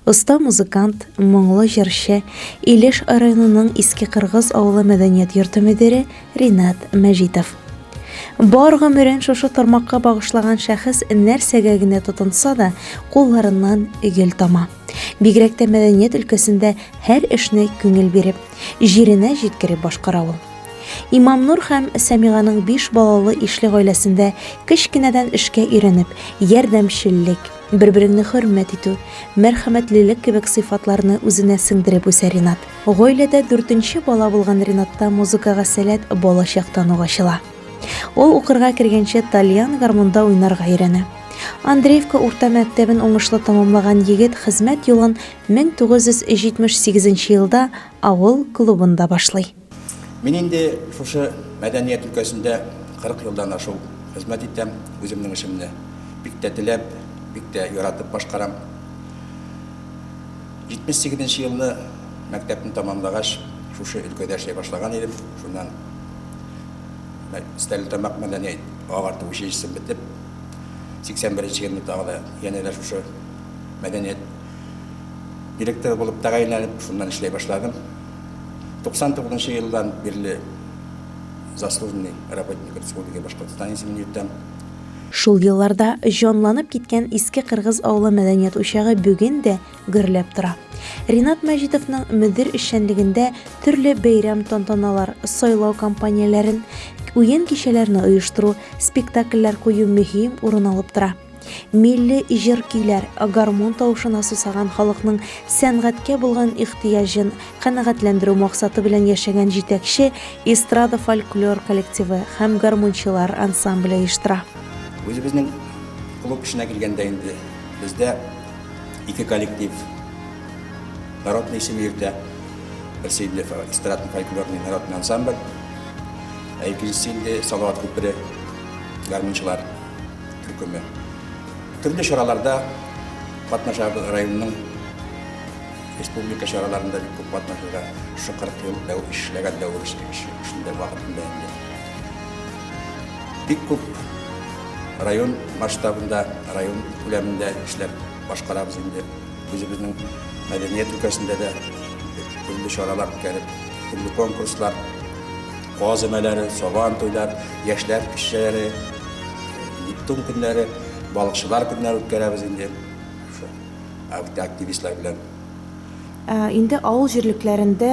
Оста музыкант, моңлы җырчы, Илеш районының Иске Кыргыз авылы мәдәният йорты мөдире Ринат Мәҗитов. Бар гомерен шушы тармакка багышлаган шәхес нәрсәгә генә тотынса да, кулларыннан гөл тама. Бигрәк тә мәдәният өлкәсендә һәр эшне күңел биреп, җиренә җиткереп башкара ул. Имамнур һәм Сәмиганың биш балалы ишле гаиләсендә кечкенәдән эшкә өйрәнеп, ярдәмчеллек, Бер-береңне хөрмәт итү, мәрхәмәтлелек кебек сыйфатларны үзенә сеңдереп үсә Ринат. Гаиләдә дүртенче бала булган Ринатта музыкага сәләт балачактан ук ачыла. Ул укырга кергәнче тальян гармунда уйнарга өйрәнә. Андреевка урта мәктәбен уңышлы тәмамлаган егет хезмәт юлын 1978 елда авыл клубында башлый. Мин инде шушы мәдәният өлкәсендә 40 елдан ашу хезмәт итәм, үземнең эшемне бик тә теләп, бик тә яратып башкарам. 78 нче елны мәктәпне тәмамлагач, шушы өлкәдә эшли башлаган идем. Шуннан Стәрлетамак мәдәният агарту училищесын бетеп, 81 нче елны тагы да янә дә шушы мәдәният директоры булып тәгаенләнеп, шуннан эшли башладым. 99 нчы елдан бирле заслуженный работник республики Башкортостан исемен йөртәм. Шул елларда җанланып киткән Иске Кыргыз авылы мәдәният учагы бүген дә гөрләп тора. Ринат Мәҗитовның мөдир эшчәнлегендә төрле бәйрәм тантаналар, сайлау кампанияләрен, уен кичәләрне оештыру, спектакльләр кую мөһим урын алып тора. Милли җыр-көйләр, гармун тавышына сусаган халыкның сәнгатькә булган ихтыяҗын канәгатьләндерү максаты белән яшәгән җитәкче эстрада фольклор коллективы һәм гармунчылар ансамбле оештыра. Үзебезнең клуб эшенә килгәндә инде бездә ике коллектив народный исеме йөртә. Берсе инде эстрадный фольклорный народный ансамбль, ә икенчесе инде Салават күпере гармунчылар. төркеме. Төрле чараларда катнашабыз районның республика чараларында бик күп катнашырга шушы 40 ел дәү эшләгән дәвер эшендә вакытында инде. Бик күп район масштабында, район күләмендә эшләп башкарабыз инде. Үзебезнең мәдәният өлкәсендә дә төрле чаралар үткәреп, төрле конкурслар Каз өмәләре, сабан туйлар, яшьләр кичәләре, Нептун көннәре, балыкчылар көннәре үткәрәбез инде. Шул активистлар белән. Инде авыл җирлекләрендә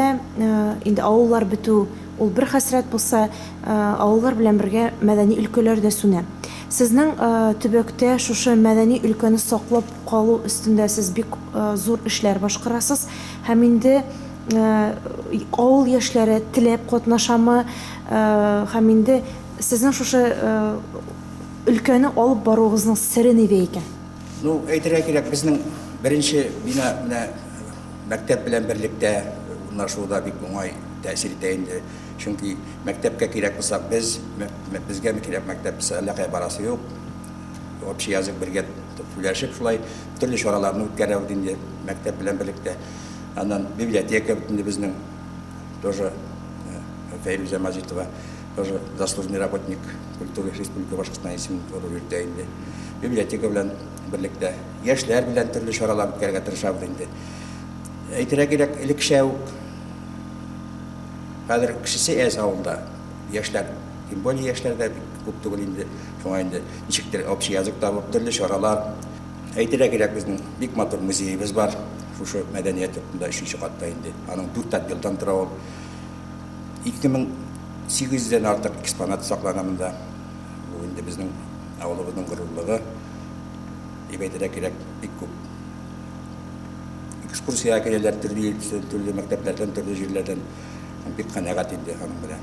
инде авыллар бетү, ул бер хәсрәт булса, авыллар белән бергә мәдәни өлкәләр дә сүнә. Сезнең төбәктә шушы мәдәни өлкәне саклап калу өстендә сез бик зур эшләр башкарасыз һәм инде авыл яшьләре теләп катнашамы, һәм инде сезнең шушы өлкәне алып баруыгызның сере нидә икән? Ну, әйтергә кирәк, безнең беренче бина менә мәктәп белән берлектә урнашуы да бик уңай тәэсир итә инде. Чөнки мәктәпкә кирәк булсак, без, безгә кирәк мәктәп булса, әллә кая барасы юк. Общий язык бергә сөйләшеп шулай төрле чараларны үткәрәбез инде мәктәп белән берлектә. Аннан библиотека бөтенде безнең. Тоже э, Фәйрүзә Мазитова, тоже заслуженный работник культуры республика башкортстан исемен торып йөртә инде. Библиотека белән берлектә яшьләр белән төрле чаралар үткәрергә тырышабыз инде. Әйтергә кирәк, элекшә үк хәзер кешесе әз авылда. Яшьләр, тем более яшьләрдә күп түгел инде. Шуңа инде ничектер общий язык табып, төрле чаралар Әйтергә кирәк, безнең бик матур музеебыз бар. Шушы мәдәният йортында өченче катта инде. Аның дүрт отделдан тора ул. 2800 дән артык экспонат саклана монда. Бу инде безнең авылыбызның горурлыгы. Дип әйтергә кирәк, бик күп экскурсиягә киләләр төрле төрле мәктәпләрдән, төрле җирләрдән. Бик канәгать инде аның белән.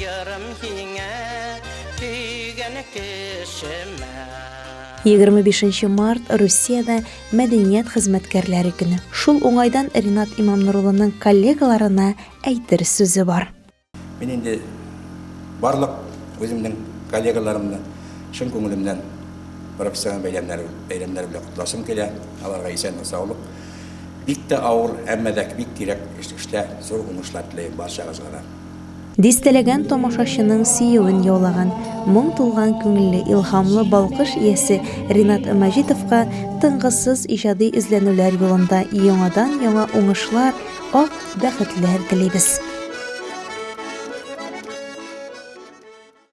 Ярым һиңә сөйгән кешемә. 25 март Русиядә мәдәният хезмәткәрләре көне. Шул уңайдан Ринат Имамнурулының коллегаларына әйтер сүзе бар. Мин инде барлык үземнең коллегаларымны чын күңелемнән профессиональ бәйрәмнәре бәйрәмнәре белән котласым килә. Аларга исәнлек, саулык. Бик тә авыр, әмма дә бик кирәк эш, эштә зур уңышлар теләйм барчагызга да. Дистәләгән тамашачының сөюен яулаган, моң тулган күңелле, илһамлы балкыш иясе Ринат Мәҗитовка тынгысыз иҗади эзләнүләр юлында яңадан-яңа уңышлар, ак бәхетләр телибез!